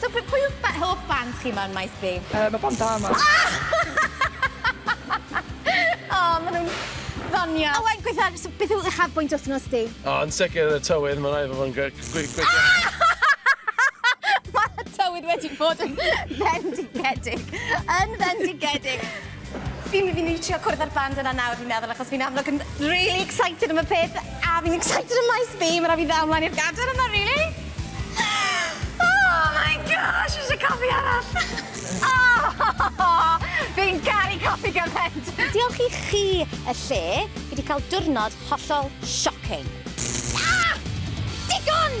So p- pwy yw'ch ba- hoff bands chi mewn maes B? Yy ma' band da ma. O, ma' nhw'n ddoniol. Owain, gweitha, so beth yw uchafbwynt wythnos di? O, yn sicr y tywydd, mae'n rhaid fod fo'n gwe- gwe- gwe- Mae tywydd wedi bod yn fendigedig. Yn fendigedig. Fi my- fi myn' i trio cwrdd â'r band yna nawr fi'n meddwl achos fi'n amlwg yn rili excited am y peth a fi'n excited am maes B ma' rai' fi ddal mlaen i'r gadel yma rili. Oh my gosh fi isie cofi arall. Oh! Fi'n caru cofi gyment! Diolch i chi y lle, fi 'di cael diwrnod hollol shocking. Ah! Digon!